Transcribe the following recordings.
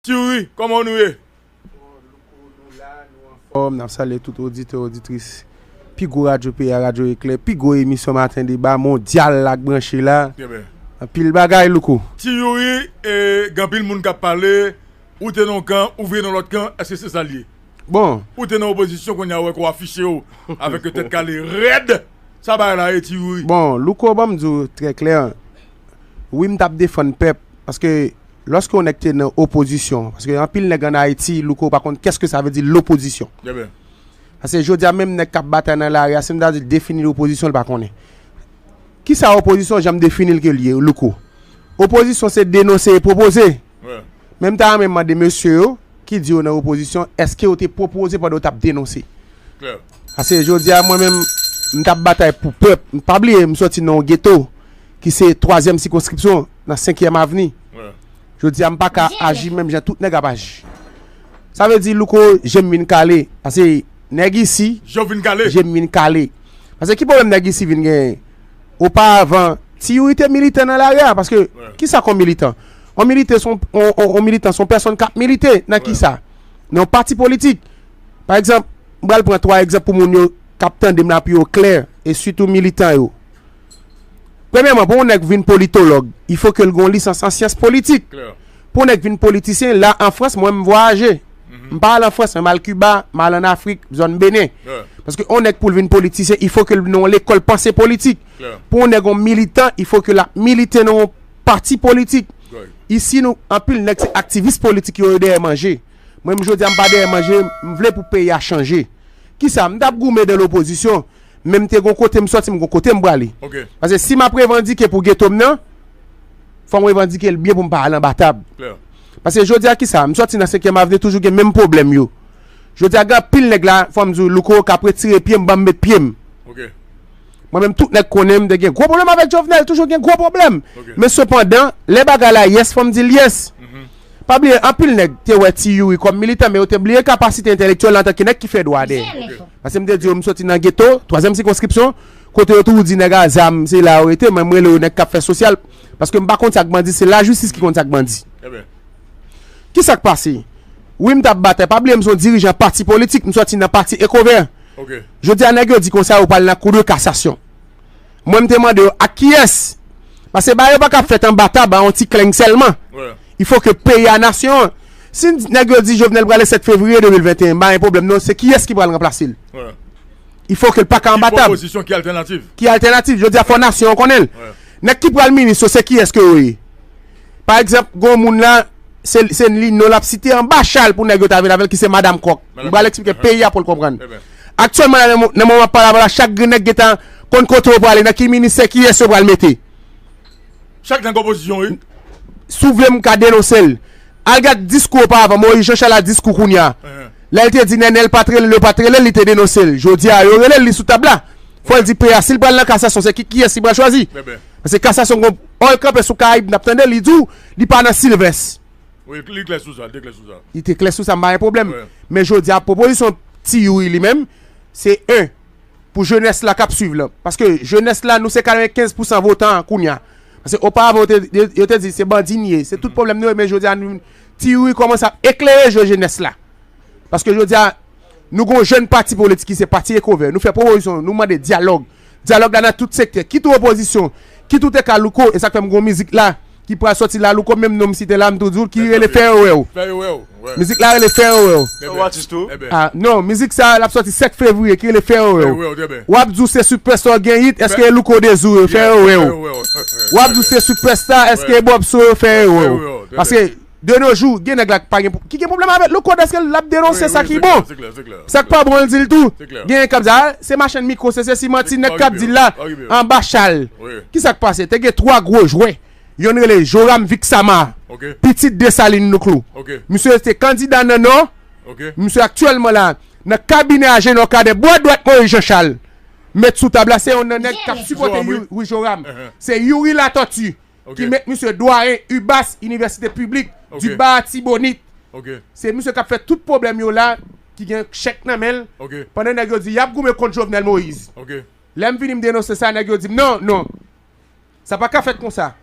Thiouri kòman w nou ye? Bon louko nou la nou anfòm nap salye tout oditè oditris pi gwo radyo peyi a radyo eklè pi gwo emisyon maten deba mondyal la k branche la anpil bagay louko. Ti youri e gen anpil moun kap pale ou te nan yon kan ou vire nan lòt kan eske se sal ye bon ou te nan opozisyon kounye a wè ke w afichew avèk yon tèt kale rèd sa bagay la ye ti youri. Bon louko banm diw trè klè wi m tap defann pèp paske Loske yon nèg te nan opozisyon, paske anpil nèg an Ayiti, Louko, pa konn kèske sa vle di lopozisyon. Pase jodi a menm nèg kap batay nan lari a, si nou ta di l defini lopozisyon, li pa konnen. Kisa opozisyon jan m defini l ke l ye, Louko? Opozisyon se denonse e pwopoze. Men m ta renmen mande mesye yo ki di yo nan opozisyon, eske yo te pwopoze pandan yo tap denonse? Pase jodi a mwen menm m t ap batay pou pèp. M pa bliye m soti nan yon geto ki se twazyèm sikonskripsyon nan senkyèm avni. Jodi a m pa ka aji menm jan tout nèg ap aji. Sa vle di Louko je m vin kale pase nèg isi je m vin kale. Pase ki pwoblèm nèg isi vin genyen? Oparavan ti youri te militan nan lari a paske ki sa k on militan? On militan se yon pèsonn k ap milite nan ki sa? Nan yon pati politik. Pa egzanp, m pral pran 3 egzanp pou moun yo k ap tande m la pou yo klè e sitou militan yo. Premyèman, pou yon nèg vin politològ, il fo ke l gen yon lisans an syans politik. Pou yon nèg vin politisyen, la an Frans, mwen m vwayaje. M pa al an Frans men m al Kiba, m al an Afrik, zòn Benen. Paske yon nèg pou l vin politisyen, il fo ke l nan yon lekòl panse politik. Pou yon nèg yon militan, il fo ke l ap milite nan yon pati politik. Isi nou, anpil nèg se aktivis politik yo, yo dèyè manje. Mwen m jodia m pa dèyè manje, m vle pou peyi a chanje. Kisa? M tap goumen dan lopozisyon, men m te gon kote m soti m gon kote m prale. Pase si map revandike pou geto m nan, fò m revandike l byen pou m pa al anba tab. Pase jodia kisa? M soti nan senkyèm avni toujou gen menm pwoblèm yo. Jodia gen anpil nèg la, fò m di w Louko kap retire pye m banm met pye m. Mwen menm tout nèg konnen m te gen gwo pwoblèm avèk Jovenel, toujou gen gwo pwoblèm. Men sepandan, lè bagay la yès fò m di l yès. Pa bliye, anpil nèg te wè Ti Youri kòm militan, men yo te bliye kapasite entelektyèl l antanke nèg ki fè dwa de. Paske m te di yo m soti nan geto, twazyèm sikonskripsyon, kote yo toujou di nèg a zam se la yo rete, mwen m rele yo nèg k ap fè sosyal, paske m pa konn sa k bandi, se lajistis ki konn sa k bandi. Ki sa k pase? Wi m t ap batay. Pa bliye m se yon dirijan pati politik, m soti nan pati Ekovè. Jodi a nèg yo di konsa yo pral nan kou de kasasyon. Mwen m te mande yo ak kiyès? Pase bagay yo pa kab fèt anba tab a yon ti kleng sèlman. I fo ke peyi a, nasyon an. Si nèg yo di Jovenel prale 7 fevriye 2021, m pa gen pwoblèm non, se kiyès ki pral ranplase l? I fo ke l pa ka anba tab. Ki pwopozisyon, ki altènativ? Ki altènativ? Jodi a fò nasyon an konnen l. Nèg ki pral minis yo se kiyès ke yo ye? Pa egzanp, gen yon moun la, se li non l ap site anba chal pou nèg yo ta vin avè l ki se Madam Kòk. M pral eksplike peyi a pou l konprann. Aktyèlman la, nan moman m ap pale avè w la, chak grenn nèg gen tan konn kote yo prale, nan ki ministè, kiyès yo pral mete. Chak nèg opozisyon, wi. Si w vle m ka denonse l. Al gad diskou oparavan Moyiz Jan Chal a diskou kounye a. Lè l te di Nènèl pa t rele l, yo pa t rele l, li te denonse l. Jodi a, yo rele l, li sou tab la. Fò l di peyi a si l pral nan kasasyon se ki kiyès li pral chwazi. Paske kasasyon gon Oil kanpe sou Caraïbe nap tande li diw li pa nan Sylvest. Wi li klè sou sa, li te klè sou sa. Li te klè sou sa m pa gen pwoblèm. Men jodi a pwopozisyon Ti Youri li menm se 1 pou jenès la kap swiv lan. Paske jenès la nou se 95 pousan votan an kounya. Paske oparavan yo te yo te di se bandi n ye, se tout pwoblèm nou ye men jodi a nou Ti Youri kòmanse ap eklere je jenès la. Paske jodi a nou gon jèn pati politik ki se pati Ekovè nou fè pwopozisyon nou mande dyalòg Dyalòg la nan tout sektè, kit ou opozisyon, kit ou te ka Louko, e sa k fè m gen yon mizik la ki pral sòti la Louko menm non m site la m tou di w ki rele fè yo wè w mizik la rele fè yo wè w non mizik sa l ap sòti 7 fevriye ki rele fè yo wè w w ap di w se sipèsta w gen it èske e Louko Dezou yo fè yo wè w w ap di w se sipèsta èske e Bòb Sou yo fè yo wè w paske De nos jours gen nèg la ki pa gen ki gen problème avèl le code eske lap denonse sa ki bon sak pa bon li dil tou genyen kap di a se machann micro se sesi manti nèg kap dil la anba chal kisak pase te gen 3 gro jwè yonn rele Joram Vixama pitit Dessalines Louclou misye se kandida nan nò misye aktyèlman la nan kabinè Agenor Cadet bwa dwat Moïse Jean Charles met sou tab la se yon nan nèg kap sipote wi Joram se Youri Latortue. ki met misye dwayen ubas inivèsite piblik di ba atibonit se misye kap fè tout pwoblèm yo la ki gen chèk nan menl pandan nèg yo di yap goumen kont jovenel moïse lèm vini m denonse sa nèg yo dim non non sa paka fèt konsa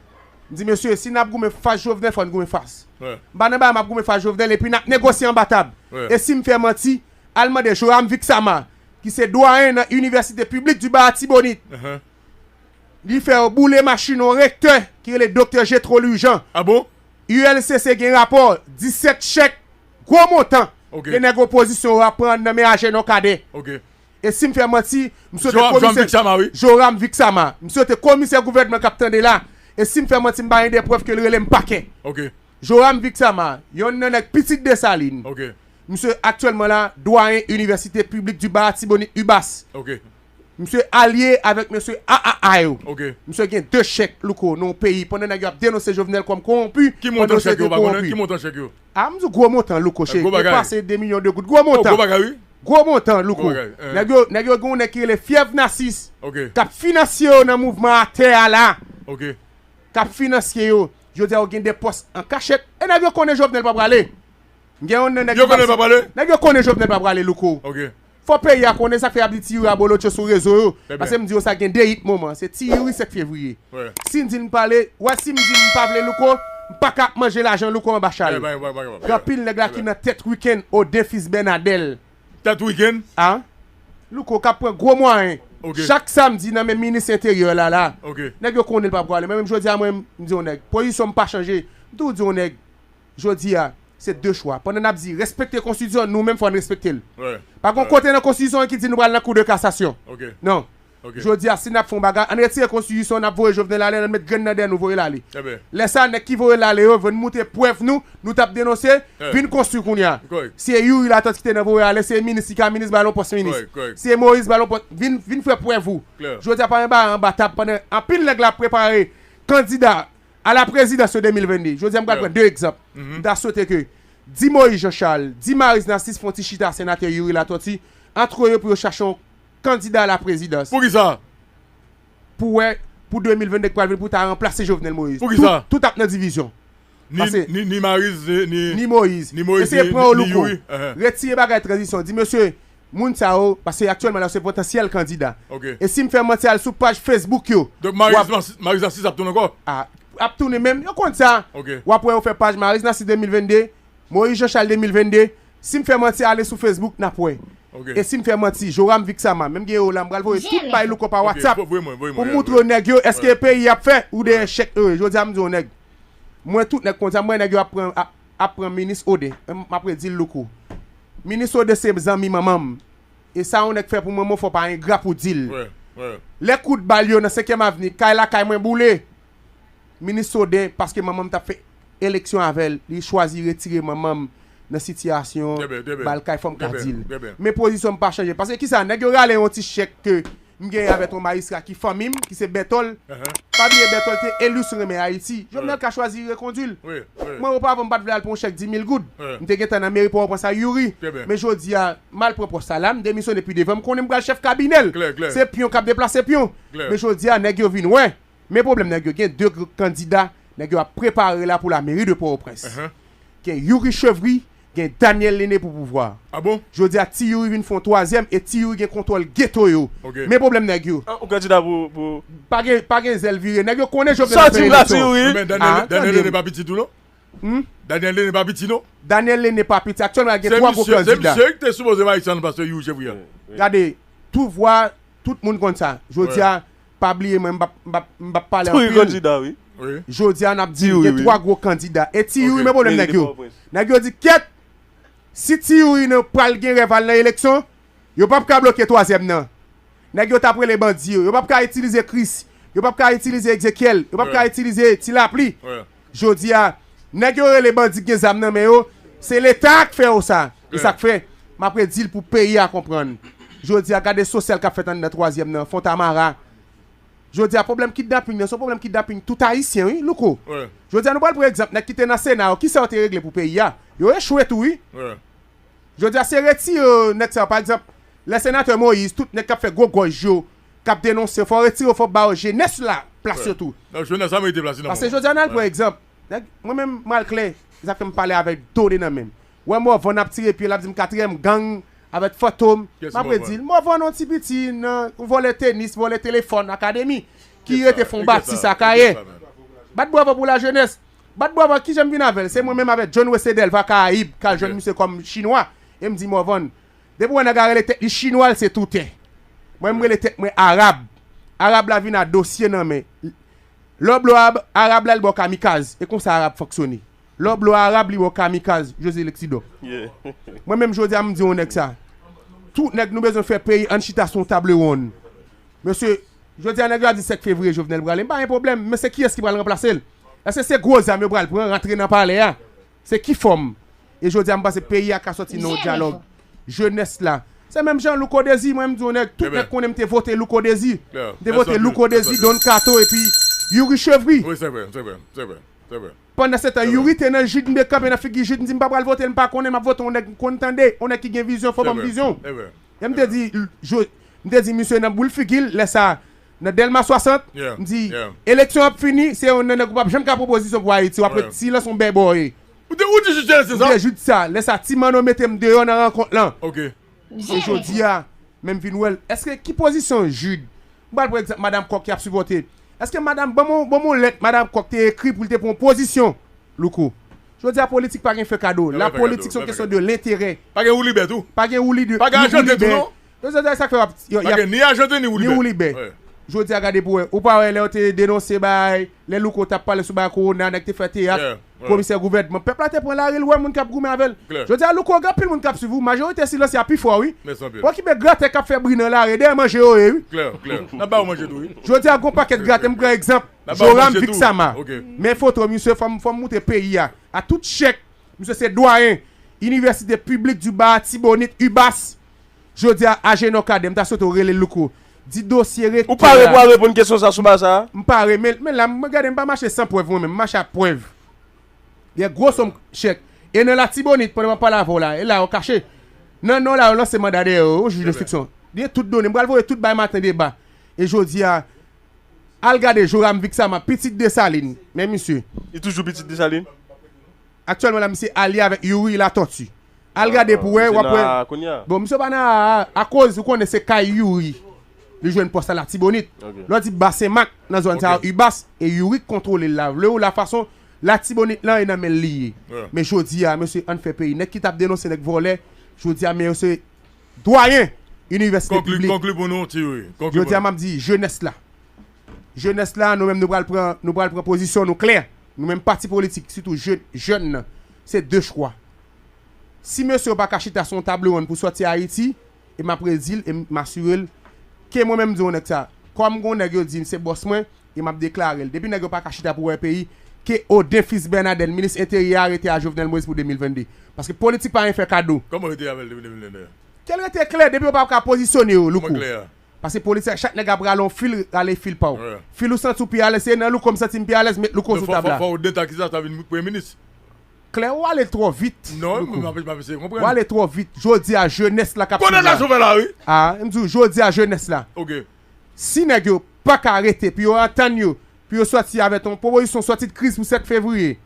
m di mesye si nap goumen fas jovenel fòn goumen fas m pa nan bagay map goumen fas jovenel epi nap negosye anba tab e sim fè manti al mande joram vixamar ki se dwayen nan inivèsite piblik di ba atibonit. Li fè yo boule machin yon rektè ki rele Doktè Jetro Lurjan. A bon? ULCC gen rapò 17 chèk gwo montan de nèg opozisyon yo ap pran nan men Ajenò Kadè. Ok. E si m fè manti, m swete Joram Joram komisè Viksama wi. Joram Viksama. M swete komisè gouvènman k ap tande la, e si m fè manti m bay ende prèv ke l rele m pakè. Ok. Joram Viksama, yonn nan nèg pitit Desalin. Ok. Misye aktyèlman la, dwayen Inivèsite Piblik Diba Atibonit, UBAS. Ok. Misye alye avèk mesye AAA yo. Misye gen 2 chèk Louko nan yon peyi pandan nèg yo ap denonse Jovenel kòm kowonpi pandan se te kowonpi. Ki montan chèk yo? A m di w gwo montan Louko cheri ki depase 2 milyon de goud. Gwo montan. Gwo montan Louko. Nèg yo gen yon nèg ki rele Fyèv Nasis k ap finansye yo nan mouvman atè a la. K ap finansye yo. Jodi a yo gen 2 pòs an kachèt. E nèg yo konnen Jovenel pa prale. Gen yon nan nèg yo. Yo konnen l pa prale? Nèg yo konnen Jovenel pa prale Louko. Fò peyi a konnen sak fè yap di ti youri abolotcho sou rezo yo pase m di yo sa gen 2 yit moman se ti youri 7 fevriye si n di n pale wè si m di m pa vle louko m paka ap manje lajan louko anba chal gen anpil nèg la ki nan tèt wikenn oden fis bènadèl tèt wikenn a louko kap pran gwo mwayen chak samdi nan men minis enteryè la la nèg yo konnen l pap pwale men menm jodi a mwen m di yon nèg pozisyon m pa chanje m toujou di yon nèg. Jodi a, se de chwa. Pandan n ap di respekte konstitisyon, nou menm fò n respekte l. Pa gen yon kote nan konstitisyon an ki di nou pral nan kou de kasasyon. Non. Jodi a, si n ap fè yon bagay, ann retire konstitisyon an, n ap voye Jovenel ale, ann met grenn nan dèyè nou voye l ale. Lè sa a, nèg ki voye l ale yo venn moute prèv nou, nou t ap denonse, vin konstwi kounye a. Si e Youri Latortue ki te nan voye ale, si e minis ki ka minis, ba l yon pòs minis. Si e Moïse, ba l yon pòs. Vin fè prèv ou. Jodi a, pa gen bagay anba tab pandan anpil nèg la ap prepare kandida A la prezidans yo 2022. Jodi a m pral pran 2 egzanp. M ta swete ke di Moïse Jean Charles, di Maryse Narcisse fon ti chita senatè Youri Latortue antre yo pou yo chache yon kandida a la prezidans. Poukisa? Pou wè pou 2022 k pral vini pou ta ranplase Jovenel Moïse. Poukisa? Tout ap nan divizyon. Pase. Ni ni Maryse ni. Ni Moïse. Ni Moïse ni Youri. Eseye pran yon louko. Retire bagay tranzisyon. Di mesye Moun sa yo, paske aktyèlman la yo se potansyèl kandida. E si m fè manti al sou paj Facebook yo. Donk Maryse Maryse Narcisse ap tounen ankò? Ah ap tounen men yo konn sa. W ap wè yo fè paj Maryse Narcisse 2022, Moïse Jean Charles 2022. Si m fè manti ale sou Facebook n ap wè. E si m fè manti Joram Vixama menm gen yo la m pral voye tout bay Louko pa WhatsApp pou m moutre yo nèg yo èske peyi y ap fè ou dèyè chèk yo ye. Jodi a m di yon nèg mwen tout nèg konn sa m wè nèg yo ap pran ap pran minis ode m ap redi l louko minis ode se zanmi manman m e sa yon nèg fè pou manman w fò pa engra pou di l lè kout bal yo nan senkyèm avni kay lakay mwen boule minis ode paske manman m t ap fè eleksyon avè l li chwazi retire manman m nan sitiyasyon bal kay fò m ka di l men pozisyon m pa chanje paske kisa nèg yo rale yon ti chèk ke m genyen avè ton Majistra ki fanmi m, ki se Bètòl. Pa bliye Bètòl te eli sou renmen Ayiti. Jovenel ka chwazi rekondi l. Mwen oparvan m pa t vle al pou yon chèk dimil goud. M te gentan nan meri Pòtoprens a Youri. Men jodi a, m al pran pòs sa la, m demisyone pi devan, m konnen m pral chèf kabinè l. Se pyon k ap deplase pyon. Men jodi a, nèg yo vin wè, Men pwoblèm nèg yo gen 2 gr kandida nèg yo ap prepare la pou la meri de Pòwoprens. Gen Youri Chevry, gen Daniel Lene pou pouvwa. Jodi a Ti Youri vin fè yon twazyèm e Ti Youri gen kontwòl geto yo. Men pwoblèm nèg yo. Ou kandida pou. Pa gen pa gen zèl vire. Nèg yo konnen Jovenel ap fè eleksyon. Men Daniel Lene pa piti tou non. Daniel Lene pa piti non. Daniel Lene pa piti. Aktyèlman gen 3 gwo kandida. Se misye ki te sipoze Marissan pase Youri Chevry a. Gade, tou vwa tout moun konn sa. Jodi a. Pa bliye mwen m pap pale anpil. Tou yon kandida wi. Jodi a nap di gen 3 gwo kandida. E ti youri men pwoblèm nèg yo. Nèg yo di kyèt si ti youri nan pral gen rèv al nan eleksyon yo pap ka bloke twazyèm nan. Nèg yo tap rele bandi yo. Yo pap ka itilize kris. Yo pap ka itilize ekzekyèl. Yo pap ka itilize ti lapli. Jodi a, nèg yo rele bandi k gen zam nan men yo, se leta a k fè yo sa. E sa k fè, m ap redi l pou peyi a konprann. Jodi a, gade sosyal k ap fèt anndan twazyèm nan, Fontamara. Jodi a, pwoblèm kidnaping nan, se yon pwoblèm kidnaping tout Ayisyen wi, Louko. Jodi a, nou pral pran egzanp nèg ki te nan Sena yo, ki sa yo te regle pou peyi a? Yo echwe tou wi. Jodi a, se retire nèg sa yo. Pa egzanp, lè Senatè Moïse, tout nèg k ap fè gwo gòj yo, kap denonse fò retire yo fò ba yo jenès la plas yo tou pase jodia nal pran egzanp nèg mwen menm mal klè sa fèm pale avèk done nan menm wè mòvan ap tire pyel ap dim katriyèm gang avèk fantom map redil mòvan yon ti piti nan vòlè tenis vòlè telefòn akademi ki rete fon batis akayè bat bravo pou la jenès bat bravo kijanm vin avèl se mwen menm avèk jhonn wese dèlva karayib kal jwenn misye kòm chinwa em di mòvan. Depi wè nèg a rele tèt li chinwa l se toutè. Mwen m rele tèt mwen arab. Arab la vin a dosye nan men. Lè w blo ab, arab la li ba w kamikaz. E konsa arab fonksyone. Lè w blo arab li ba w kamikaz. José Lexidor. Mwen menm jodi a m di yon nèg sa. Tout nèg nou bezwen fè peyi ann chita sou yon table ronn. Mesye, jodi a nèg yo ap di 7 fevriye Jovenel prale m pa gen pwoblèm. Men se kiyès ki pral ranplase l? Èske se gwo zam yo pral pran rantre nan palè a? Se ki fòm? E jodi a m panse peyi a ka sòti nan yon dyalòg jenès la. Se menm jan Louko Dezi, mwen m di yon nèg, tout nèg konnen m te vote Louko Dezi. M te vote Louko Dezi, Don Kato epi Youri Chevry. Pandan se tan Youri te nan Jid m te kanpe nan figi Jid m di m pa pral vote l, m pa konnen, m ap vote yon nèg m konn tande, yon nèg ki gen vizyon, fò ban m vizyon. E m te di, m te di misye nan boul figi l lè sa a. Nan Delma 60, m di, eleksyon ap fini, se yon nan nèg ou pap janm ka pwopozisyon pou Ayiti, wap ret silans on bèbòye. Ou te di jis yè se sa? M te jis sa, lè sa Ti Manno mete m deyò nan rankont lan. Se jodi a, men m vin wè l. Eske ki pozisyon Jid, m pral pran egzanp Madam Kòk ki ap sipòte, eske madam, ban m yon lèt Madam Kòk te ekri pou l te pran yon pozisyon, Louko. Jodi a politik pa gen fè kado, lapolitik se yon kesyon de lenterè. Pa gen woulibè tou. Pa gen woulibè. Pa gen ajante tou non. Yo se sak fè wap yo yap ni ajante ni woulibè jodi a gade pou wè ou pa wè lè yo te denonse bagay lè louko tap pale sou bagay kowona nèg te fè teyat komisè gouvènman pèp la te pran lari l wè moun kap goumen avèl jodi a louko gen anpil moun kap swiv ou majorite silanse a pi fò wi okipe gratè kap fè bri nan lari dèyè manje yo ye wi jodi a gon pakèt gratè m pran egzanp joram viksama men foto misye fòm moute peyi a a tout chèk misye se dwayen inivèsite piblik di ba atibonit ibas. Jodia Agenor Cadet m ta swete w rele Louco di dosye Ou rektè pare a pou al reponn kesyon sa sou baz sa a? M pare men men la m gade m pa mache san prèv mwen menm m mache ak prèv Gen gwo som chèk e nan Latibonit pandan m ap pale avè w la e la yo kache nan nò la yo lanse manda dèyè yo wi jij denstriksyon gen tout done m pral voye tout bay maten deba e jodia al gade Joram Vixama pitit Desalin men misye. Li toujou pitit Desalin? Aktyèlman la misye alye avèk Youri Latortue. Al gade pou wè, w ap wè. Misye nan aa aa kounye a? Bon, misye pa nan aa aa akoz ou konnen se kay Youri li jwenn pòs la Latibonit. Lè w di Bas Senmak, nan zòn sa yo Ubas, e Youri k kontwole l la. Vle ou la fason Latibonit lan e nan men l li ye. Men jodi a, mesye ann fè peyi. Nèg ki t ap denonse nèg vòlè, jodi a men yo se dwayen inivèsite piblik. Konkli pou nou, ti Youri. Konkli pou nou. Jodi a m ap di jenès la, Jenès la, nou menm nou pral pran, nou pral pran pozisyon nou klè. Nou menm pati politik, sitou je, jèn nan, se de chwa. Si mesye yo pa ka chita sou yon table ronn pou sòti Ayiti, e m ap redi l e m asire l, ke mwen menm m di yon nèg sa, kòm gon nèg yo di m se bòs mwen, e m ap deklare l, depi nèg yo pa ka chita pou wè peyi, ke Odin Fils Bernadel, minis enteryè a rete a Jovenel Moïse pou 2022. Paske politik pa yon fè kado. Kòman rete avè l depi 2022? Ke l rete klè, depi yo pa ka pozisyone yo, Louko. Kòman klè a? Pase police a chak nèg ap rale yon fil rale fil paw fil ou santi ou pi alèz se nan louko m santi m pi alèz met louko sou tab la. Fòw denta kisa sa vin premye minis. Klè ou ale twò vit louko ou ale twò vit jodi a jenès la kap swiv la a m di w jodi a jenès la si nèg yo paka rete pou yo antann yo pou yo sòti avè ton pwopozisyon sòti de kriz pou 7 fevriye.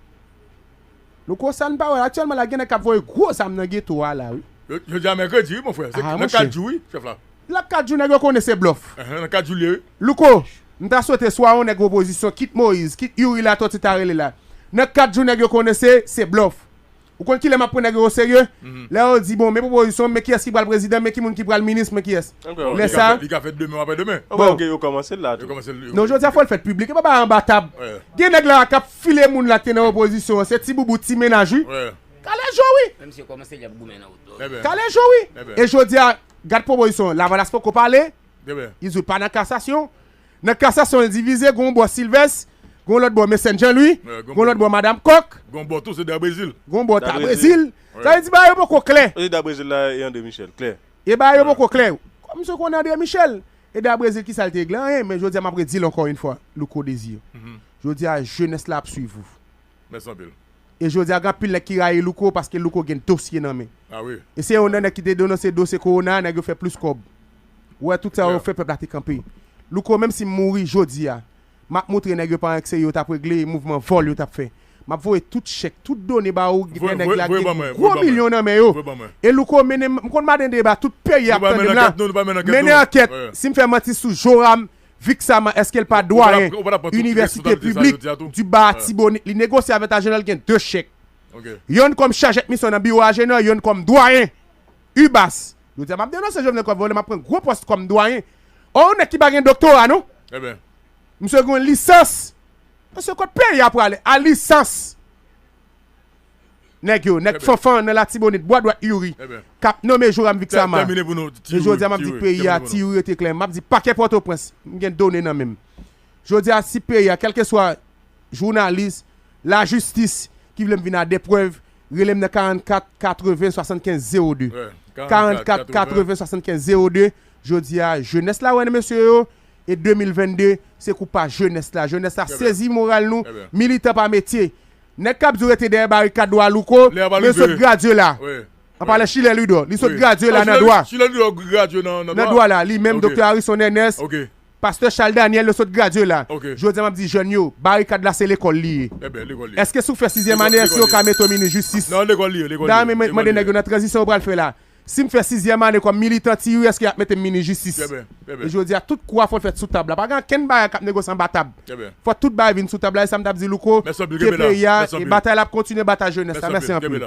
Nou konsann pa wèl aktyèlman la gen nèg kap voye gro zam nan geto a la wi. Jodi a mèkredi wi mon frè se nan 4 jou wi chèf la. Lap 4 jou nèg yo konnen se blòf. Nan 4 jou l ye wi. Louko, m ta swete swa yon nèg opozisyon kit Moïse, kit Youri Latòti ta rele la. Nan 4 jou nèg yo konnen se se blòf. Ou konn kilè map pran nèg yo oserye? Lè yo di bon men pwopozisyon, men kiyès ki pral prezidan, men ki moun ki pral minis, men kiyès. Lè sa. Li ka fèt demen ou aprè demen. Bon ok yo kòmansel la tou. Non jodia fòl fèt piblik epa bagay anba tab. Gen nèg la kap file moun la ki te nan opozisyon an se ti boubou ti mennaj wi. Kalezo wi. Menm si yo kòmanse yap goumen nan wout yo. Kalezo wi. E jodia gad pwopozisyon an lavalas poko pale. Li di pa nan kasasyon. Nan kasasyon li divize gon bò Silvès, gon lòt bò Mecène Jean Louis, gon lòt bò Madam Kòk. Gon bò tou se Da Brezil. Gon bò Da Brezil. Sa vle di bagay yo poko klè. Sa vle di Da Brezil la e André Michel klè. E bagay yo poko klè. Kòm misye konnen André Michel. E da Brezil kisa li te regle? Anyen. Men jodi a map redil ankò yn fwa Louko Desir. Jodi a jenès la ap swiv ou. Mèsi anpil. E jodi a gen anpil nèg ki rayi Louko paske Louko gen dosye nan men. Ah oui. E se yon nan nèg ki te denonse dosye Corona a nèg yo fè plis kòb. Ou wè tout sa yo fè pèp la te kanpe. Louko menm si mouri jodi a. Map moutre nèg yo pa ank se yo tap regle mouvman vòl yo tap fè. Map voye tout chèk, tout done ba ou lè nèg la gen gwo milyon nan men yo. E louko mennen m konn maden deba tout peyi ap tande m la. Mennen ankèt sim fè manti sou Joram Vixaman eskel pa dwayen inivèsite piblik di ba atibonit li negosye avè tajenèl gen 2 chèk. Yonn kòm chajèt misyon nan biwo ajenè yonn kòm dwayen. Ubas. Yo di a map denonse jovenel kap vole map pran gwo post kom dwayen oh yon neg ki pa gen doktora non Ebyen. Misye gen yon lisans. Mesye kot peyi a prale a lisans neg yo neg fanfan nan latibonit bwa dwat youri kap nome joram vixamar e jodia map di peyi a ti youri rete kle map di pakè potoprens m gen done nan menm jodia si peyi a kelkeswa jounalis lajistis ki vle m vin a de prev Rele m nan 44 80 75 02 44 80 75 02 Jodi a jenès la wè nan mesye yo e 2022 se kou pa jenès la jenès la sezi moral nou militan pa metye nèg kap di w rete dèyè barikad dwa louko men l sot gradye la an pale chilè lidò li sot gradye la nan dwa nan dwa la li menm doktè arison ernest Pastè Chal Daniel yo sot gradye la Jodi a map di jèn yo barikad la se lekòl li ye Eske si w fè sizyèm ane èske yo ka mete w minis jistis Da m mande nèg yo nan tranzisyon yo pral fè la Si m fè sizyèm ane kòm militan ti ui èske y ap mete m minis jistis Jodi a tout kou a fon fèt sou tab la pa gen ankenn bagay k ap negosye anba tab. Fò tout bagay vin sou tab la esam tap di louko ke peyi a e batay la ap kontinye batay jenès la mèsi anpil.